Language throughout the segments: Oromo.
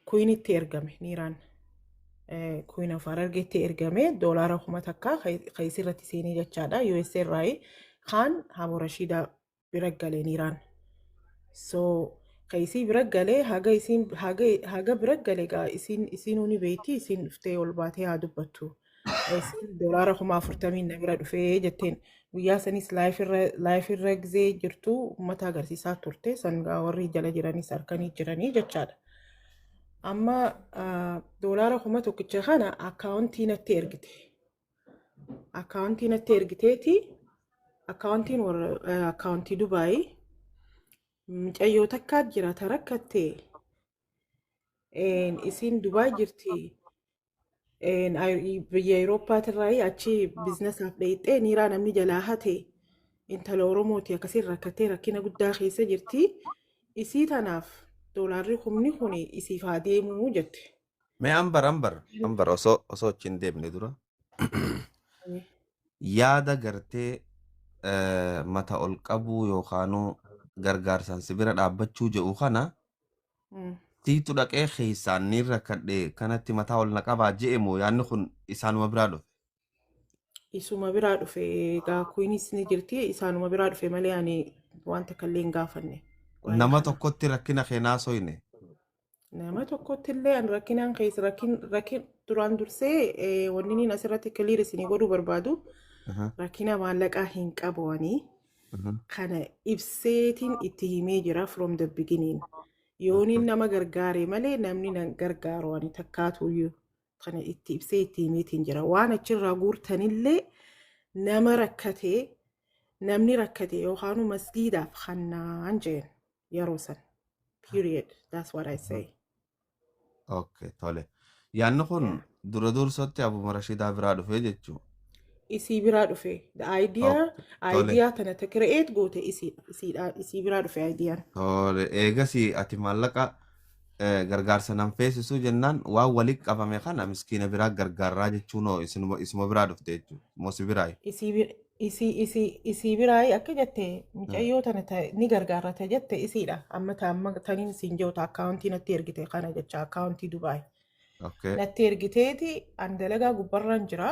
Kuinitti ergame niiraan kuin of harargeetti ergame doolaara kuma takka kayisii irratti seenee jechaadha US irraayi kaan haabo rashiidaa bira gale niiraan so kayisii bira gale haga isiin haga haga bira gale gaa isiin isiinuu ni beeyti isiin dhuftee ol baatee haa dubbattu doolaara kuma afurtamiin na bira dhufee jetteen guyyaa sanis laayifirra gizee jirtu uummata agarsiisaa turte sangaa warri jala jiranis harkanii jiranii jechaadha. Amma doolaara kuma tokkicha kana akkaawuntii natti ergite. Akkaawuntii natti ergiteeti akkaawuntiin warra akkaawuntii Dubaayii mucayyoo takkaa jira ta rakkattee isiin Dubaay jirti. Biyya Awurooppaatirraayi achi biizinasaaf dheeyxee niiraa namni jalaa hate intala Oromooti akkasiin rakkattee rakkina guddaa keessa jirti. Isii tanaaf doolaarri kumni kun isiif haa deemuu jette. Mee ambar ambar ambar osoo osoo achi hin deemne dura yaada gartee mata ol qabuu yookaanuu gargaarsaan si bira dhaabbachuu jedhu kana Mm. Siitu dhaqee keessaan niin rakkadhe kanatti mataa ol na qabaa je'e moo yaanni kun isaanuma biraa dhufe. Isuma biraa dhufe egaa kunis ni jirti isaanuma biraa dhufe malee ani waan takka illee hin gaafanne. Waa'ee Nama kana. tokkotti rakkina keenyaa sooyne. Nama tokkotti illee an rakkinaan keessa rakkin rakkin duraan dursee eh, wanni niin asirratti kiliir isinii godhuu barbaadu Aha. rakkina maallaqaa hin qabu ani. kana ibseetiin itti himee jira from the beginning yooniin nama gargaare malee namni nan gargaaru ani takkaatuyyuu kana itti ibsee itti himeetiin jira waan achirraa guurtanillee nama rakkate namni rakkate yookaanu masgiidaaf hannaan jeen yeroo san period that's what I say Okay, tole. Yaanni kun dura dursatti Abuma Rashidaa biraa dhufee jechuu. isii biraa dhufe the idea Okay, tole. idea tana ta create goote isii isiidha isii biraa dhufe idea Tole. Eegasii ati maallaqa eh, gargaarsa nan feesisuu jennaan waan walitti qabame kana miskiina biraa gargaarraa jechuun hoo isinuma isuma biraa dhufte jechuudha. Moo si biraa? isii bi- Isii isii isii biraayii akka jette micayyoo tana ta ni gargaarra ta jette isiidha. Amma ta amma taniin siin jiru ta akkaawuntii natti ergite kana jecha akkaawuntii Dubaay. Okay. Natti ergiteeti an dalagaa gubbarraan jira.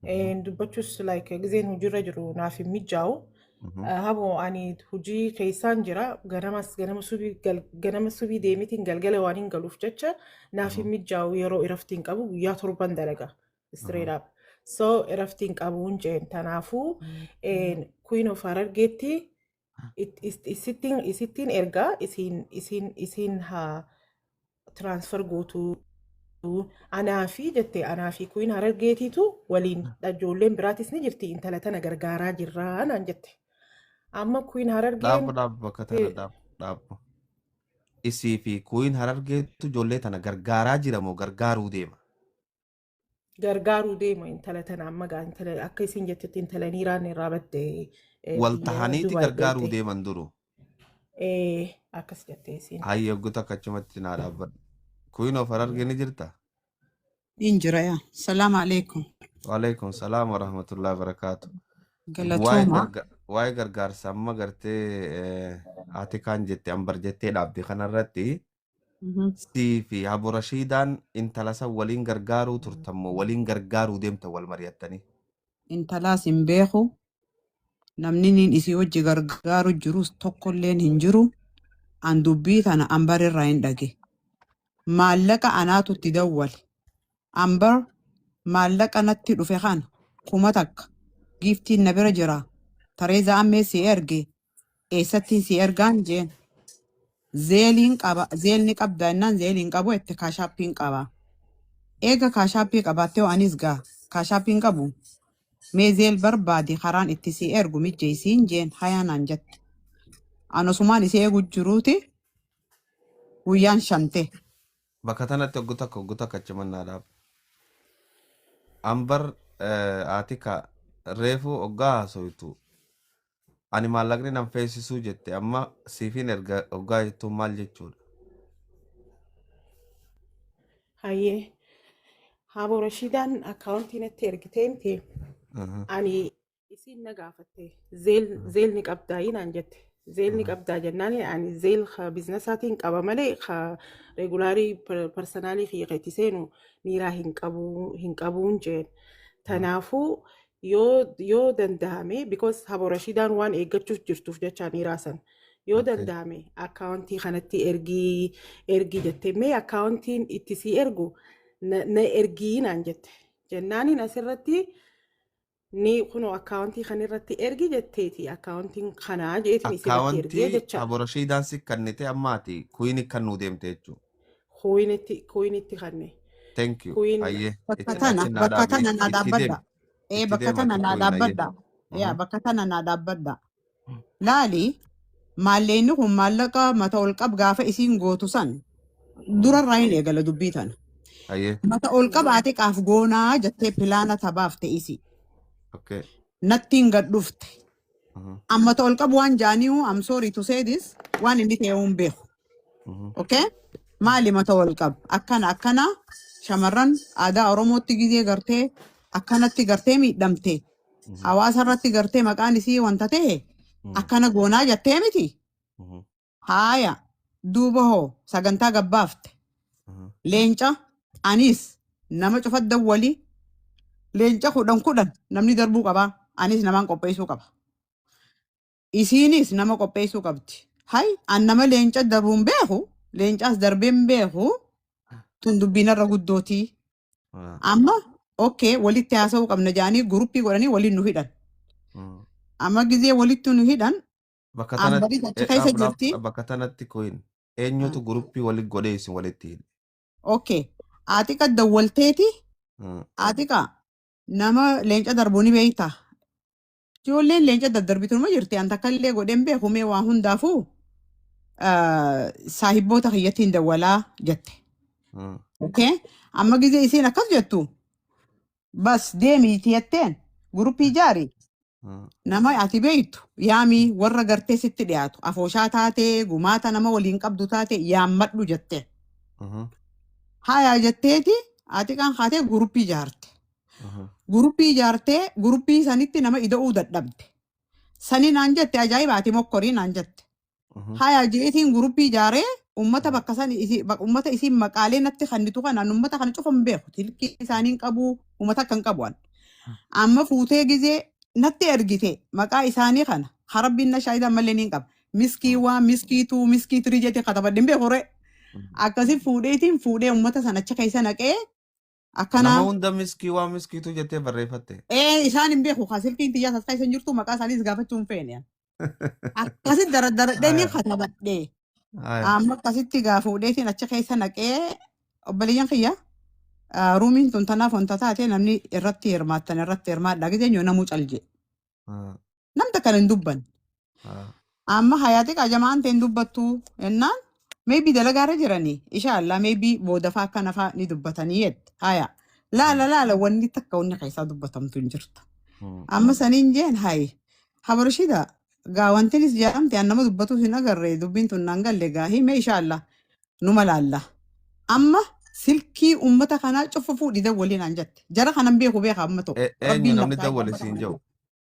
Eh, Dubbachuus like gizeen hojiirra jiru naaf hin mijaa'u. Mhm. Eh, Haboo ani hojii keessaan jira ganamas ganama subii gal- ganama subii deemitiin galgala waan hin galuuf jecha naaf hin mijaa'u yeroo iraftiin qabu guyyaa torban dalaga. straight up so iraftiin qabuun jeen tanaafuu queen of harargeetti it- is- isittiin isittiin ergaa isiin isiin isiin haa transfer gootuu anaa fi jette anaa fi queen harargeetiitu waliin ijoolleen biraatis ni jirti intala tana gargaaraa jirraa naan jette amma queen harargeen Dhaabbu dhaabbu bakka tana eh, dhaabbu dhaabbu. Isii fi kuuyin harargeetu ijoollee tana gargaaraa jira moo gargaaruu deema? gargaaruu deema intala tana amma gaa intala akka isin jettetti intala niiraan irraa badde eh, Wal biyya tahaniiti Dubaay gargaaruu deemte. deeman duru. Eh, akkas jette isin. Hayya oggu takka achumatti naa dhaabbadhu. Kuyin of hararge ni jirta? Niin jira yaa. Salaamu alaikum. Waalaikum salaam wa rahmatullahi wa barakaatu. Waa'ee Galatooma. garga- waa'ee gargaarsa amma gartee eh, haati kaan jette ambar jettee dhaabde kanarratti Mhm. Sii fi Abu Rashiidaan intala san waliin gargaaruu turtan moo waliin gargaaruu deemtan wal mari'attanii? Intalaas hin beeku. Namni niin isii wajji gargaaru jirus tokkolleen hin jiru. An dubbii tana Ambar irraa hin dhage. Maallaqa anaatu itti dawwale. Ambar maallaqa natti dhufe kana kuma takka giiftiin na bira jira. Tareezaa ammee si erge Eessattiin si ergaan jeen. Zeeliin qaba. Zeel ni qabda innaan zeeliin qabu itti kaashaappiin qaba. Eega kaashaappii qabaattee hoo anis gaa kaashaappiin qabu. Mee zeel barbaadi karaan itti si ergu mijjeessiin jeen hayaa naan jette. An osumaan isii eegu jiruuti guyyaan shante. Bakka tanatti oggu takka oggu takka achuman naa dhaaba. An bar eh, Aatika reefuu oggaa haasoytu Ani maallaqni nan feesisuu jette amma siifin erga oggaa jettuun maal jechuudha? Hayyee Haaboo Rashiidaan akkaawuntii natti ergitee miti Aha. ani isiin na gaafatte zeel zeel ni qabdaa inaan jette zeel ni qabdaa jennaan ani zeel ka biiznasaatiin qaba malee ka regulaarii parsanaalii kiyya keetti seenu miiraa hin qabu hin qabuun jeen tanaafuu yoo yoo danda'ame because habo rashiidaan waan eeggachuuf jirtuuf jechaa dhiiraa san yoo Okay. danda'ame akkaawuntii kanatti ergii ergii jette mee akkaawuntiin itti sii ergu na, na ergii naan jette jennaaniin asirratti ni kunoo akkaawuntii kan irratti ergi jetteeti akkaawuntiin kanaa jeetiin isirratti ergee Akkaawuntii jechaa habo rashiidaan si kennite ammaati kuyiin kan nuu deemte jechuudha. kuwiinitti kuwiinitti kanne Thank you. kuwiin Ayyee. Itti bakka tana achi naa bakka dhaabi. tana naa Itti deemi. dhaabbadha ee Itti bakka deema tana naa kuwiin ayyee. dhaabbadha yaa Mhm. bakka tana naa dhaabbadha laali maalleenni kun maallaqa mata ol qab gaafa isiin gootu san Mhm. durarraa hin eegala dubbii tana Ayyee. mata ol qabaa xiqaaf goonaa jettee pilaana tabaaf ta'isi Okay. nattiin gad dhufte Mhm. Amma ta ol qabu waan jaaniihu I'm sorry to say this waan inni ta'e hin beeku. Mhm. Okay? Maali mata wal qabu? Akkana akkana shamarran aadaa Oromootti gizee gartee akkanatti gartee miidhamte Mhm. hawaasa irratti gartee maqaan isii wanta ta'e Mhm. akkana goonaa jettee miti. Mhm. Haaya duuba hoo sagantaa gabbaafte leenca anis nama cufa dawwali leenca kudhan kudhan namni darbuu qaba anis namaan qopheessuu qaba isiinis nama qopheessuu qabdi hay an nama leenca darbuun beeku leencaas darbeen beeku tun dubbiinarra guddootii amma okkee walitti haasa'uu qabna jedhanii guruppii godhanii waliin nu hidhan amma gizee walitti nu hidhan Bakka tanatti Ambaris achi eh, keessa dhaab dhaab jirti. bakka tanatti koyin Ah, eenyutu guruppii walitti godhee isin walitti hidhe. Okay. Atiqa dawwalteeti. Mm. Atiqa nama leenca darbuu ni beekta. Ijoolleen leenca daddarbitu numa jirti. An takka illee godhee hin beeku mee waa hundaafuu ah, saahibboota kiyyattiin dawwalaa jette. Mm. Okay. Amma gisee isiin akkas jettu bas deemi itti jetteen guruppii ijaari Mm. nama ati beektu yaamii warra gartee sitti dhiyaatu afooshaa taatee gumaata nama waliin qabdu taate yaammadhu jette Mhm. haayaa jetteeti ati kan kaatee guruppii ijaarte Mhm. guruppii ijaartee guruppii sanitti nama ida'uu dadhabde sani naan jette ajaa'iba ati mokkorii naan jette Mhm. Haya jeetiin guruppii ijaaree ummata Mhm. bakka san isi- bak- ummata isiin maqaalee natti kennitu kana an ummata kana cufa hin beeku tilkii isaanii hin qabu ummata akka hin qabu an. Amma fuutee gizee natti ergite maqaa isaanii kana harabbiin na shaayida malee niin qaba. Miskii Mhm. waan miskii tuu miskii tirii jeetiin katabadhe hin beeku ree. Mhm. Akkasi fuudheetiin fuudhee ummata san achi keessa naqee akkana Nama hunda miskii waan miskiituu jettee barreeffatte. ee isaan hin beeku kaa silkiin tiyyaas as keessa hin jirtu maqaa isaaniis gaafachuu hin feene akkasi daradaradhee ni Aya, katabadhe aya. amma akkasitti gaa fuudheetiin achi keessa naqee obboleeyyan kiyya ah, ruumiin tun tanaaf wanta taate namni irratti hirmaattan irratti hirmaadha giseenyo namuu calje haa nam takkan hin dubbanne. haa Amma hayaati qajamaan ta'e hin dubbattu jennaan maybe dalagaa irra jiranii ishaallah maybe boodafaa akka nafaa ni dubbatanii jette haya laala haa laala wanni takka wanni keessaa dubbatamtu hin jirtu. haa Amma saniin jeen hayi habarshida gaa wantinis jedhamte an nama dubbatuus hin agarre dubbiin tun naan galle gaa hime ishaallah numa laalla. Amma silkii ummata kanaa cuffa fuudhi dawwalii naan jatte. Jara kanan beeku beeka amma tokko. E- Eenyu Rabbiin namni labsaa dawwale siin jedhu?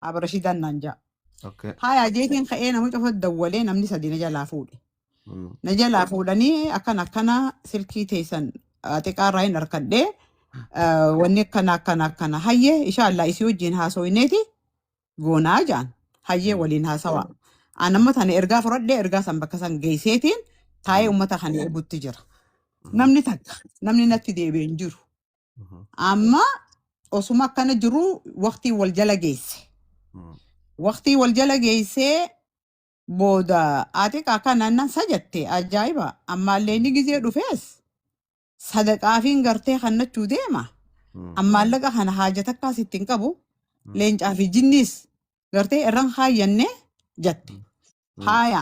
Aaba Rashiidaan naan ja'a. Okay. Haayaa jeetiin ka'ee nama cufa dawwalee namni sadii na jalaa fuudhe. Mm. Na jalaa fuudhanii akkan akkana silkii teessan ah, xiqqaa irraa hin harkadhee ah, wanni akkana akkana akkana hayyee ishaallah isii wajjin haasooyneeti goonaa jaan hayyee Mm. waliin haasawaa. An amma tana ergaa fudhadhee ergaa san bakka san geesseetiin taa'ee Mm. uummata kana eegutti jira. Mm. Namni takka namni natti deebi'e hin jiru. Mhm. Amma osuma akkana jiru waqtii wal jala geesse. Mm. Waqtii wal jala geessee booda ati akka naannan sajatte ajaa'iba ammaallee inni gizee dhufees sadaqaafiin gartee kannachuu deema Mm. an maallaqa kana haajata akkaas ittiin qabu Mm. leencaa fi jinniis gartee irran haayyanne jatte Mm. haaya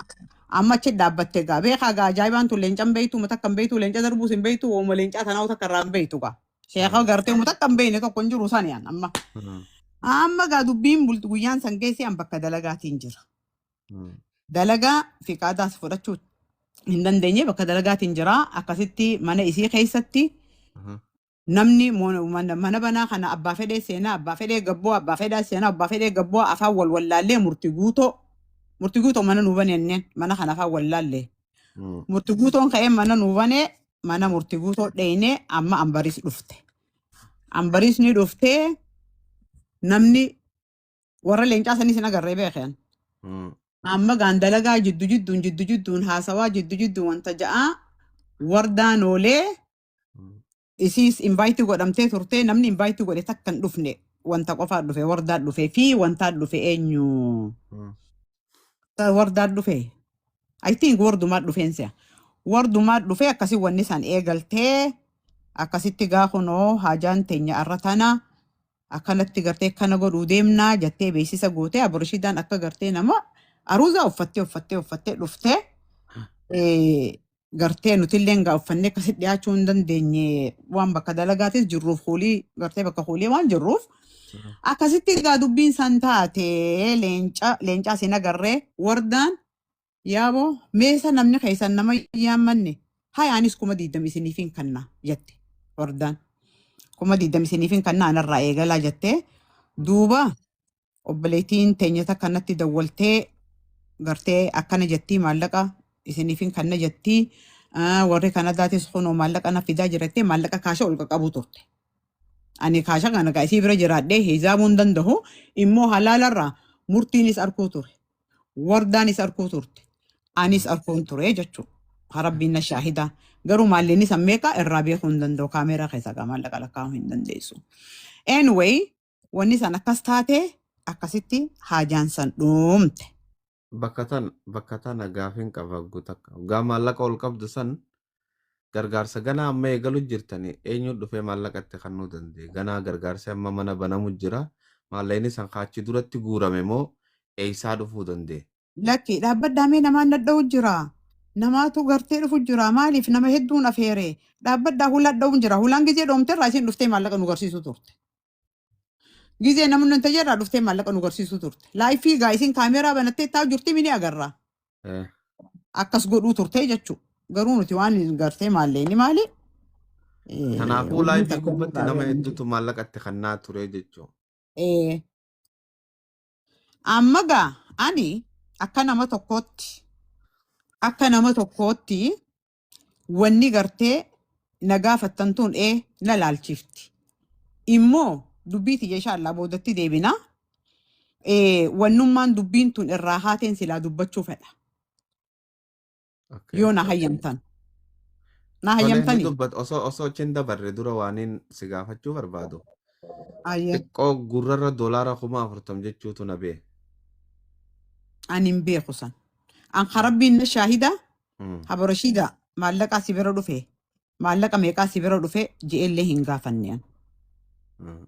amma achi dhaabbatte gaa beekaa gaa ajaa'ibaan tun leencan beeytu mata kan beeytu leenca darbuus hin beeytu ooma leencaa tanaa takka irraa hin beeytu gaa sheekaa Mm. gartee mata kan beeyne tokko hin jiru saniyaan amma Mm. amma gaa dubbiin bultu guyyaan san geessee an bakka dalagaatiin jira Mm. dalagaa fiqaadaas fudhachuu hin dandeenye bakka dalagaatiin jira akkasitti mana isii keessatti Mhm. namni mo- mana mana banaa kana abbaa fedhee seenaa abbaa fedhee gabboo abbaa fedhaa seenaa abbaa fedhee gabboo afaan wal wallaallee murti guutoo murti guutoo mana nuu baneenneen mana kana afaan wallaallee Mm. murti guutoon ka'ee mana nuu banee mana murti guutoo dheeynee amma ambariis dhufte ambariis ni dhuftee namni Warra leencaa sanis hin agarree beekan. Mm. Amma gaan dalagaa jiddu jidduun jiddu jidduun haasawaa jiddu jidduun wanta ja'aa wardaa noolee Mm. isiis invaayitii godhamtee turtee namni invaayitii godhe takka hin dhufne wanta qofaa dhufe wardaa dhufe fi wantaa dhufe eenyu Mm. Ta- wardaa dhufe I think wardumaa dhufeen si'a wardumaa dhufe akkasi wanni san eegaltee akkasitti gaa kunoo haajaan teenya arra tana akkanatti gartee kana godhuu deemnaa jattee beeksisa gootee aborishidaan akka gartee nama aruuzaa uffattee uffattee uffattee dhuftee eh, gartee nutilleen gaa uffannee akkasi dhiyaachuu hin dandeenye waan bakka dalagaatis jirruuf hoolii gartee bakka hoolii waan jirruuf akkasitti gaa dubbiin san taate leenca leencaa siin agarree wardaan Yaabo, mee isa namni keessan nama hin yaammanne, haya anis kuma diiddama isiniifin kanna jette Ordaan. Kuma diiddama isiniifin kanna anarraa eegalaa jette. Duuba obboleettiin teenya takka natti dawwaltee gartee akkana jettii maallaqa isiniifin kanna jettii. Ah, Warri Kanadaatis kunoo maallaqa na fidaa jirattee maallaqa kaasha ol qaqqabuu turte. Ani kaasha kana gaa isii bira jiraadhee hisaabuu hin danda'u. Immoo halaalarraa murtiinis arguu ture. Wardaanis arkuu turte. Anis arkuun ture jechuu. Harabbiin na shaahida. Garuu maallinni san meeqa irraa beekuu hin danda'u. Kaameeraa keessa gaa maallaqa lakkaa'uu hin dandeessu. Anyway, wanni san akkas taate akkasitti haajaan san dhuumte. Bakka tana bakka tana gaafin qaba ggu takka. Gaa maallaqa ol qabdu san Gargaarsa ganaa amma eegalu jirtani eenyuu dhufee maallaqa itti kannuu danda'e ganaa gargaarsi amma mana banamu jira maallaqni san ka achi duratti guurame moo eeysaa dhufuu danda'e? Lakki dhaabbadhaa mee namaan dhadha'u jira namaatu gartee dhufu jira maaliif nama hedduun afeere dhaabbadhaa hulaan dha'uun jira hulaan gizee dhoomte irraa isiin dhuftee maallaqa nu garsiisuu turte Gizee namni nan tajaajilaa dhuftee maallaqa nu garsiisuu turte. Laayifii gaa isin kaameeraa banattee taa'u jirti mini agarra. Eh, Akkas godhuu turte jechuu. Garuu nuti waan hin gartee maallee inni maali? Eh, Kanaafuu Umrii laayifii takka gubbatti irraa nama beekan. hedduutu maallaqa itti kennaa ture jechuun. Eh, Amma gaa ani akka nama tokkootti akka nama tokkootti wanni gartee na gaafattan tun ee na laalchifti. Immoo dubbii tiyya inshaallah boodatti deebina. Ee, Wannummaan dubbiin tun irraa haateen silaa dubbachuu fedha. Okay. Yoo na hayyamtan. Na Tolee ni hayyamtanii? dubbat osoo osoo achiin dabarre dura waaniin si gaafachuu barbaadu. Ayyee. Xiqqoo gurrarra doolaara kuma afurtam jechuutu na bee. Ani hin beeku san. An ka rabbiin na shaahida Mm. Aborashiidaa maallaqaa si bira dhufe maallaqa meeqaa si bira dhufe je'ellee hin gaafanne an Mm.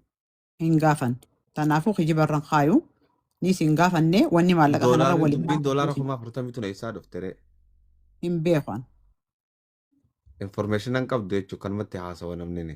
hin gaafanne tanaafuu kijibarran kaayu nis hin gaafanne wanni maallaqa kanarra Doolaarri waliin dubbiin doolaara kuma afurtamii tun eessaa dhufte ree? hin beeku an Information an qabdu jechuun kanumatti haasawa namni ni.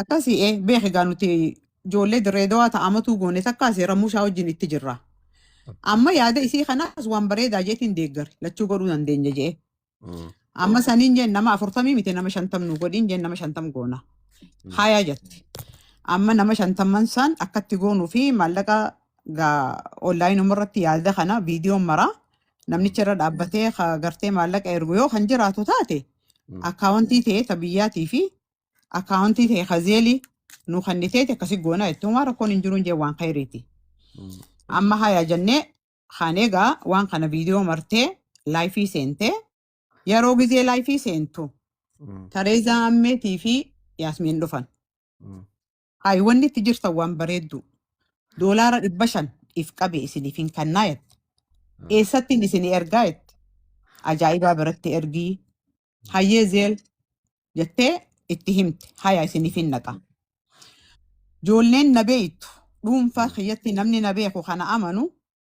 Akkasii ee beeki gaa nuti ijoollee dirree dawaa ta'amatuu goone takkaa seeramuu isaa wajjin itti jirra. Amma yaada isii kanaas waan bareedaa jeetiin deeggare lachuu godhuu dandeenya jee. Amma saniin jeen nama afurtamii miti nama shantam nu godhiin jeen nama shantam goona. Haayaa jette. Amma nama shantamman san akkatti goonuu fi maallaqa gaa onlaayinuma irratti yaada kana viidiyoon maraa namnicha irra dhaabbatee ka gartee maallaqa ergu yoo kan jiraatu taate Mm. akkaawuntii ta'ee ta biyyaatii fi akkaawuntii ta'ee ka zeelii nu kenniteeti akkasi goonaa jettee waan rakkoon hin jiruun jee waan kayriiti. Mm. Amma haya jennee kaan egaa waan kana viidiyoo martee laayifii seentee yeroo gizee laayifii seentu Mm. Tareezaa Ammeetii fi Yaasmiin dhufan. Mm. Ayi wanni itti jirtan waan bareedduu. Doolaara dhibba shan if qabe isinifin kannaa jette. Eessattiin isinii ergaa jette. Ajaa'ibaa biratti ergii. Hayyee zeel jettee itti himte. Haya isinifin naqa. Joolleen na beeytu. Dhuunfaa kiyyatti namni na beeku kana amanu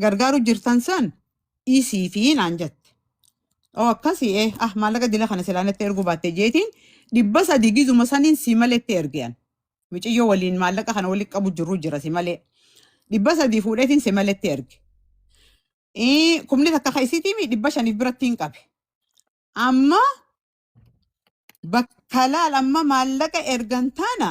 gargaaru jirtan san dhiisii fi naan jette. Oo akkasii ee ah maallaqa dila kana silaa natti erguu baatte jeetiin dhibba sadii gizuma saniin si malee itti ergean. Miciyyoo waliin maallaqa kana walitti qabu jirru jira si malee. Dhibba sadii fuudheetiin si malee itti erge. Ii, Kumni takka ka isiitii mi dhibba shaniif biratti hin qabe. Amma bakka laal amma maallaqa ergan taana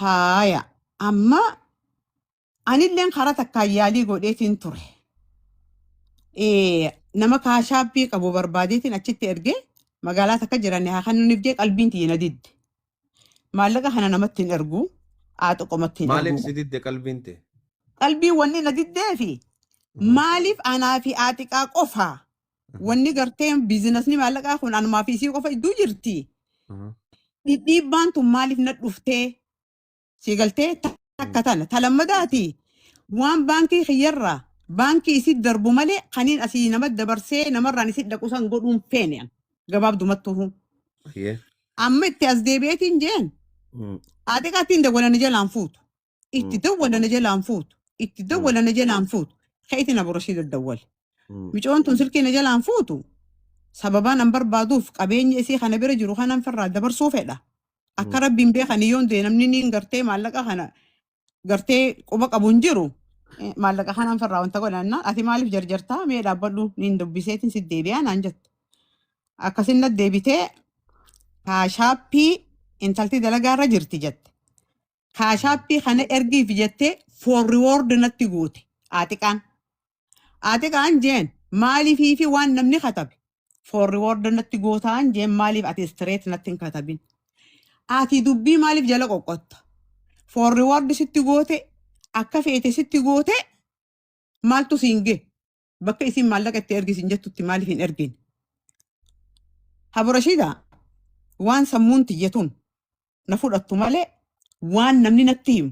Haaya. Amma anilleen karaa takkaan yaalii godheetiin ture. Eh, Nama kaashaabbii qabu barbaadeetiin achitti erge magaalaa takka jiranne haa kennuuniif jee qalbiin tiyya na didde. Maallaqa kana namatti hin ergu. Aaxo qomatti hin Maaliif ergu. si didde qalbiin tee? Qalbiin wanni na diddee fi Mm. maaliif anaa fi aaxiqaa qofa Wanni gartee biizinasni maallaqaa kun anumaa fi isii qofa iddoo jirti. Dhidhiibbaan tun maaliif na dhuftee? Sii galtee ta- takka tana. Ta lammadaati waan baankii kiyyarraa baankii isii darbu malee kaniin asii nama dabarsee namarraan isii dhaqu san godhuun feene an. Gabaabdumattuu. Amma itti as deebi'eetiin jeen. Haa xiqaattiin dawwalan jalaan fuutu. itti Mm. dawwala na jalaan fuutu itti dawwala na jalaan fuutu keetiin abu rashiid dawwale Mm. micoon tun silkii na jalaan fuutu sababaan an barbaaduuf qabeenya isii kana bira jiru kanan firraa dabarsuu fedha akka Mm. rabbiin beekanii yoon du'e namni niin gartee maallaqa kana gartee quba qabu hin jiru Eh, maallaqa kanan firraa wanta godhanna ati maaliif jarjartaa mee dhaabbadhu niin dubbiseetiin si deebi'aa naan jette akkasin na deebitee haa shaappii intalti dalagaa irra jirti jette Kaashaappii kana ergiif jettee for reward natti goote Aaxiqaan. Aaxiqaan jeen maaliifii fi waan namni katabe for reward natti gootaan jeen maaliif ati straight natti hin katabin. Ati dubbii maaliif jala qoqqotta? For reward sitti goote akka feete sitti goote maaltu siin gee? bakka isin maallaqa itti ergi isin jettutti maaliif hin ergin? Haburashiida waan sammuun tiyya tun na fudhattu malee waan namni natti himu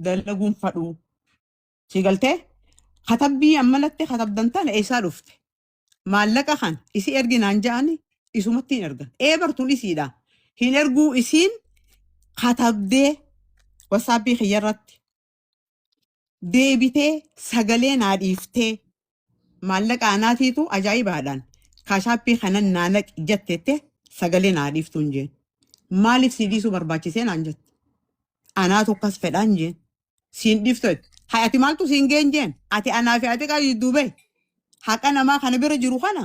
dalaguun fadhuu. Si galtee? Katabbii ammalatti katabdan tana eessaa dhufte? Maallaqa kan isi ergi naan ja'ani isumatti hin ergan. Ee bartuun isiidha. Hin erguu isiin katabdee wasaapii kiyya irratti deebitee sagalee naa dhiiftee maallaqa anaatiitu ajaa'ibaadhaan kaashaappii kanan naa naq jettette sagalee naa dhiiftuun jeen maaliif sii dhiisuu barbaachisee naan jette anaatu akkas fedhaan jeen siin dhiiftu jette hay ati maaltu siin geen jeen ati anaa fi ati qayyuu duubee haqa namaa kana bira jiru kana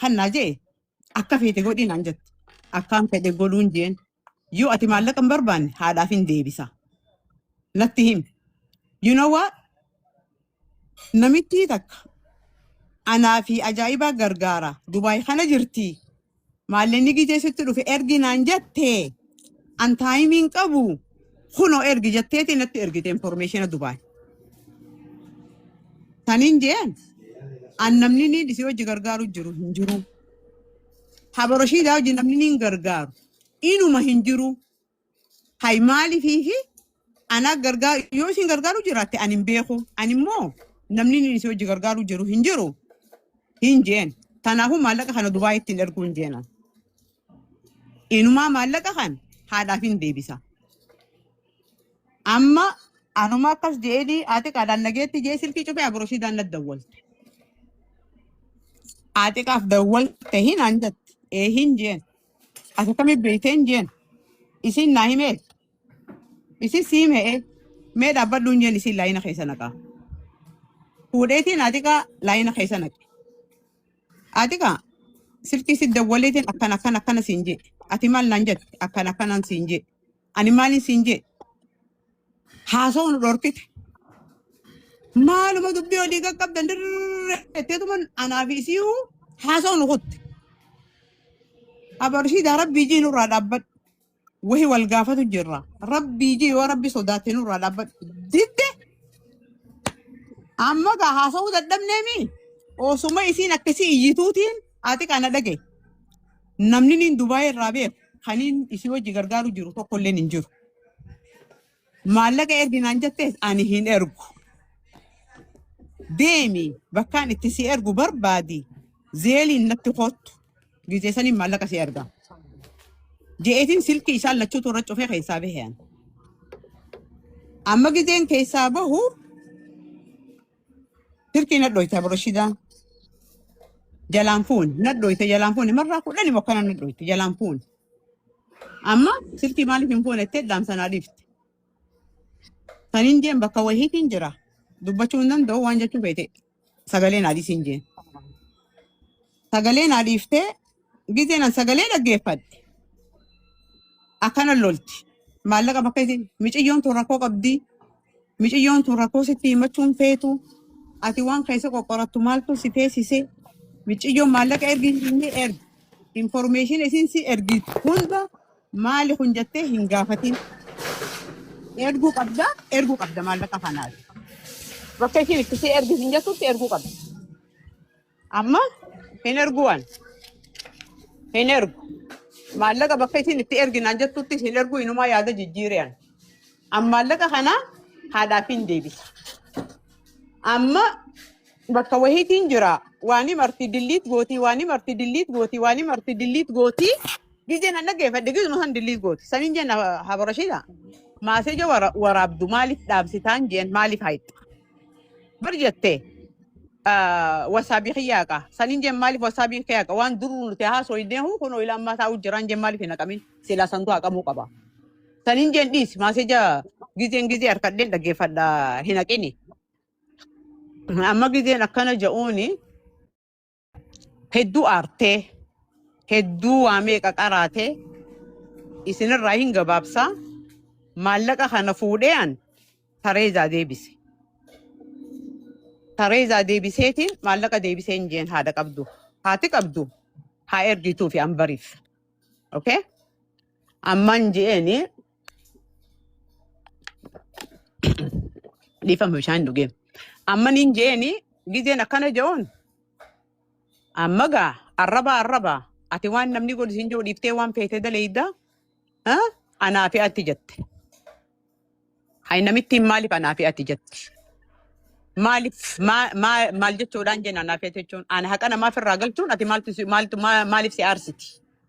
Kan naa jee akka feete godhi naan jette. Akkaan fedhe godhuun jeen. Yoo ati maallaqa hin barbaanne haadhaaf hin deebisa. Natti himi. You know what? Namittii takka anaa fi ajaa'ibaa gargaara. Dubaay kana jirti. Maalleen ni gijee sitti dhufe ergi naan jette. An taayimii hin qabu kunoo ergi jetteeti natti ergite informeeshina Dubaay. Taniin jeen an namni ni dhisee hojii gargaaru jiru hin jiru. Habaroshiidaa hojii namni ni hin gargaaru. Inuma hin jiru. Hay maaliif fi Ana gargaaru yoo isin gargaaru jiraatte ani hin beeku. Ani immoo namni inni isin hojii gargaaru jiru hin jiru hin jeen. Kanaafuu maallaqa kana Dubaay ittiin erguu hin jeena. Inumaa maallaqa kan haadhaaf hin deebisa. Amma anuma akkas jeedii haati qaadaan nageetti jee silkii cufee abrooshii daannat dawwalte. Haati qaaf dawwalte hin anjatti. Ee hin jeen. Ati akkamitti beekte hin jeen. Isin naa himee. Isin siim he'ee mee dhaabbadhu hin jeen isin laayina keessa naqaa. Fuudheetiin atiqaa laayina keessa naqe. Atiqaa silkii si dawwaleetiin akkan akkan akkana siin jee. Ati maal naan jette akkan akkanaan siin jee. Ani maaliin siin jee haasoo nu dhorkite. Maaluma dubbii olii qaqqabdan dirree jetteetuma anaa fi isii haasoo nu kutte. Abarshii daa rabbii jii nurraa dhaabbadhu. Wahi wal gaafatu jirra. Rabbii jee yoo rabbi sodaattee nurraa dhaabbadhu. Didde amma gaa haasa'uu dadhabneemi. Osuma isiin akkasii iyyituutiin ati kana dhagaye. Namni niin Dubaayii irraa beeku kaniin isii wajji gargaaru jiru tokkolleen hin jiru. Maallaqa ergi naan jettes ani hin ergu. Deemi bakkaan itti si ergu barbaadi zeeliin natti kottu gizee saniin maallaqa si erga. Je'eetiin silkii isaan lachuutu irra cufee keessaa bahean. Amma gizeen keessaa bahu Dirqiin nadhooyte abroshidaa jalaan fuuni nadhooyte jalaan fuuni marraa kudhani mokkana nadhooyte jalaan fuuni. Amma silkii maaliif hin fuune jettee dhaamsa naa dhiifte. Kan hin jeen bakka wahiitiin jira. Dubbachuu hin danda'u waan jechuu feete sagalee naa dhiisiin jeen. Sagalee naa dhiiftee Gizeen an sagalee dhaggeeffadhe akkana lolti. Maallaqa bakka isin miciyyoon tun rakkoo qabdi. Miciyyoon tun rakkoo sitti himachuun feetu. Ati waan keessa qoqqorattu maaltu si teessise. Miciyyoon maallaqa ergi inni ergi. Informeeshin isin si ergi hunda maali kun jettee hin gaafatin. Erguu qabda erguu qabda maallaqa kanaati. Bakka isin itti si ergi hin jettutti erguu qabda. Amma hin ergu waan hin ergu. Maallaqa bakka isin itti erginaan jettutti hin ergu inumaa yaada jijjiiriyaan. Amma maallaqa kana haadhaaf hin deebisa. Amma bakka wahiitiin jira waanii marti dilliit gootii waanii marti dilliit gootii waanii marti dilliit gootii gizeen an dhaggeeffadhe gizuma san dilliit gooti. Saniin jenna habarashiidha. Maaseeja waraabdu maaliif dhaabsitaan jeen maaliif haayixxa? Bar jettee ah, wasaabii kiyya haqa. Saniin jeen maaliif wasaabii kee haqa? Waan duruu nuti haasoo hin deemu kun ilaa ammaa taa'uu jiraan jeen maaliif hin haqamin? Silaa santu haqamuu qaba. Saniin jeen dhiis maaseja gizeen gizee harkadheen dhaggeeffadha hin haqini. Amma gizeen akkana ja'uuni Hedduu aartee, hedduu waa meeqa qaraatee, isinirraa hin gabaabsaa, maallaqa kana fuudhee an Tareezaa deebise. Tareezaa deebiseetiin maallaqa deebisee hin jeen haadha qabdu. Haati qabdu haa ergituu fi an bariif. Okay? Amman je'eeni Dhiifama bishaan hin dhugee. Amma niin jeeni gizeen akkana je'oon amma gaa arrabaa arrabaa ati waan namni godhu siin jiru dhiiftee waan feetee daleeyda anaa fi ati jette. Hay namittiin maaliif anaa fi ati jette. Maaliif maa- maa- maal jechuudhaan jenna anaa fi ati jechuun ana haqa namaaf irraa galchuun ati maaltu si- maaltu maa- maaliif si aarsiti.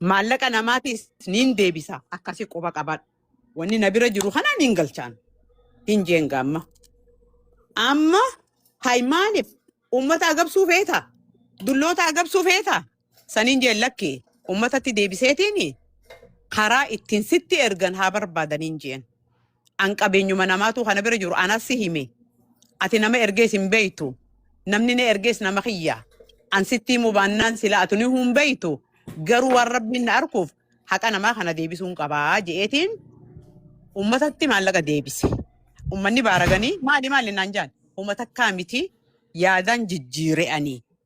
Maallaqa namaatis niin deebisa. Akkasi quba qabadhu. Wanni na bira jiru kana niin galchaan. Hin jeen gaamma. Amma hay maaliif uummata agabsuu feeta? Dulloota agabsuu feeta? Saniin jeen lakki uummatatti deebiseetiin karaa ittiin sitti ergan haa barbaadaniin jeen. An qabeenyuma namaatu kana bira jiru anas si hime. Ati nama ergees hin beektu. Namni na ergees nama kiyya. An sitti himuu baannaan sila atu ni hin beektu. Garuu waan rabbiin na arkuuf haqa namaa kana deebisuun qabaa je'eetiin ummatatti maallaqa deebise. Ummanni baaraganii maali maali naan jaan. Huma takkaa miti yaadaan jijjiire'anii.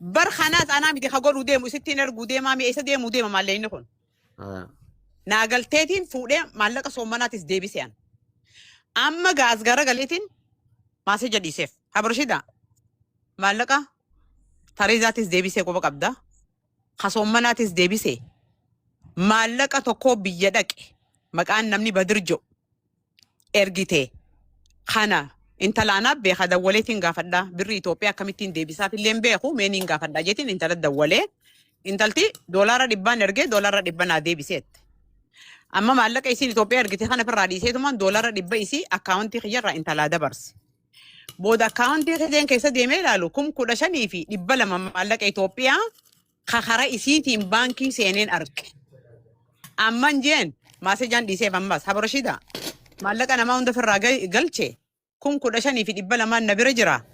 Bar kanaas anaa miti ka godhuu deemu isittiin erguu deemaa mi'a isa deemuu deema maallee inni kun. Ah. Naa galteetiin fuudhee maallaqa soommanaatis deebise an. Amma gaas gara galeetiin maasee jadhiiseef. Habarshida maallaqa tareezaatis deebisee quba qabda. Ka soommanaatis deebisee maallaqa tokkoo biyya dhaqe maqaan namni badir jedhu ergite kana intalaan abbe ha dawwaleetiin gaafadha birri Itoophiyaa akkamittiin deebisaaf illee hin beeku mee niin gaafadha jeetiin intala dawwalee intalti doolaara dhibbaan ergee doolaara dhibba naa deebiseette. Amma maallaqa isiin Itoophiyaa ergite kana firraa dhiiseetumaan doolaara dhibba isii akkaawuntii kiyyarraa intalaa dabarse. Booda akkaawuntii kiyyeen keessa deemee ilaalu kum kudha shanii fi dhibba lama maallaqa Itoophiyaa ka kara isiitiin baankii seeneen arge. Amman jeen maasejaan dhiiseef ammas haba Rashidaa maallaqa namaa hunda ofirraa gal- galche kun kudha shanii fi dhibba lamaan na bira jira.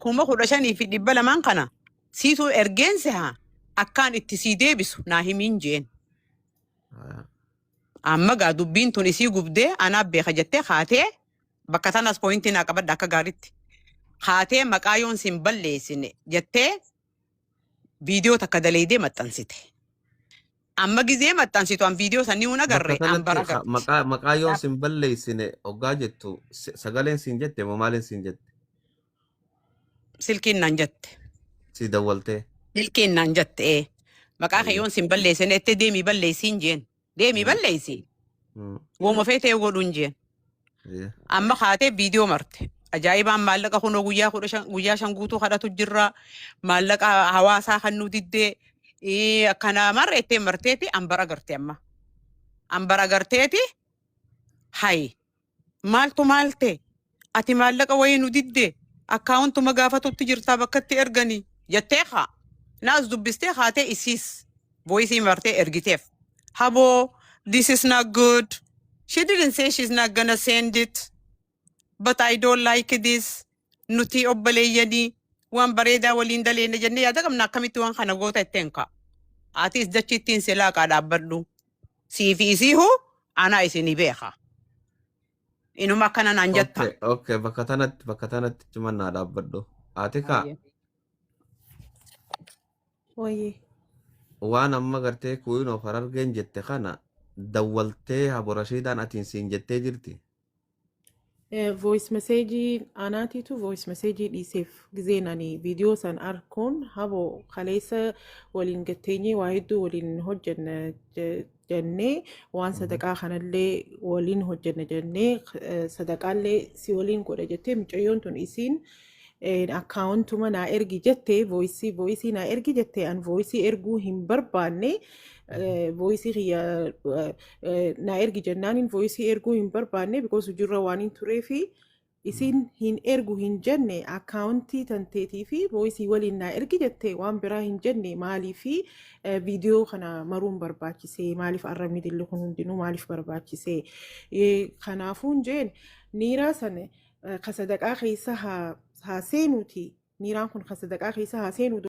Kuma kudha shanii fi dhibba lamaan kana siituu ergeen seha akkaan itti sii deebisu naa himiin jeen. Amma gaa dubbiin tun isii gubdee anaa beeka jettee haatee bakka sanas pooyintii naa qabadha akka gaaritti. Haatee maqaa yoon sin balleessine jettee viidiyoo takka daleeydee maxxansite. Amma gizee maxxansitu an viidiyoo sanii hun Bakka agarre an kanatti bara ha- garte. maqaa maqaa yoon Kanaaf sin balleessine oggaa jettu si- sagaleen siin jette moo maaliin siin jette? silkiin naan jette. Sii dawwaltee. Silkiin naan jette ee. Maqaa kee Ayyo. yoon sin balleessine itti deemii balleessiin jeen. Deemii Mm. balleessi. Mm. Wooma feetee godhuun jeen. Yeah. Amma kaatee viidiyoo marte. Ajaa'ibaan maallaqa kunoo guyyaa kudha shan guyyaa shan guutuu kadhatu jirra. Maallaqa hawaasaa kan nu diddee ee, akkana marre ittiin marteeti ambara garte amma. Ambara garteeti hayi. Maaltu maal ta'e? Ati maallaqa wayii nu didde akkaawuntuma gaafatutti jirtaa bakkatti ergani jettee kaa naas dubbistee kaatee isiis voice martee ergiteef. Haboo this is not good. She didn't say she's not gonna send it but I don't like this. nuti obboleeyyanii waan bareedaa waliin daleenne jennee yaada qabna akkamitti waan kana goota itteen ka'a. Atis dachi ittiin si laaqaa dhaabbadhu. Sii fi isii hoo anaa isinii beeka. Inuma akkana naan jetta. Okay, okay, bakka tanatti bakka tanatti ciman naa dhaabbadhu. Ati kaa Ayyee. Wayee. waan amma gartee kuuyin of harargeen jette kana dawwaltee haborashiidaan atiin siin jettee jirti. voice message anaatiitu voice message dhiiseef gizeen ani viidiyoo san arkuun habo kaleessa waliin gatteenyee waa hedduu waliin hojjenna je- jennee waan sadaqaa kanallee waliin hojjenna jennee eh, sadaqaallee si waliin godha jettee mucayyoon tun isiin akkaawuntuma naa ergi jette vooyisii vooyisii naa ergi jette an vooyisii erguu hin barbaanne vooyisii kiyya naa ergi jennaanin vooyisii erguu hin barbaanne bikoos hujirra waan hin turee fi isin hin ergu hin jenne akkaawuntii tanteetii fi vooyisii waliin naa ergi jette waan biraa hin jenne maalii fi viidiyoo kana maruun barbaachise maaliif arrabni dilli kun hundinuu maaliif barbaachise kanaafuun jeen niiraa sana ka sadaqaa keessa haa seenuuti miiraan kun ka sadaqaa keessa haa seenuu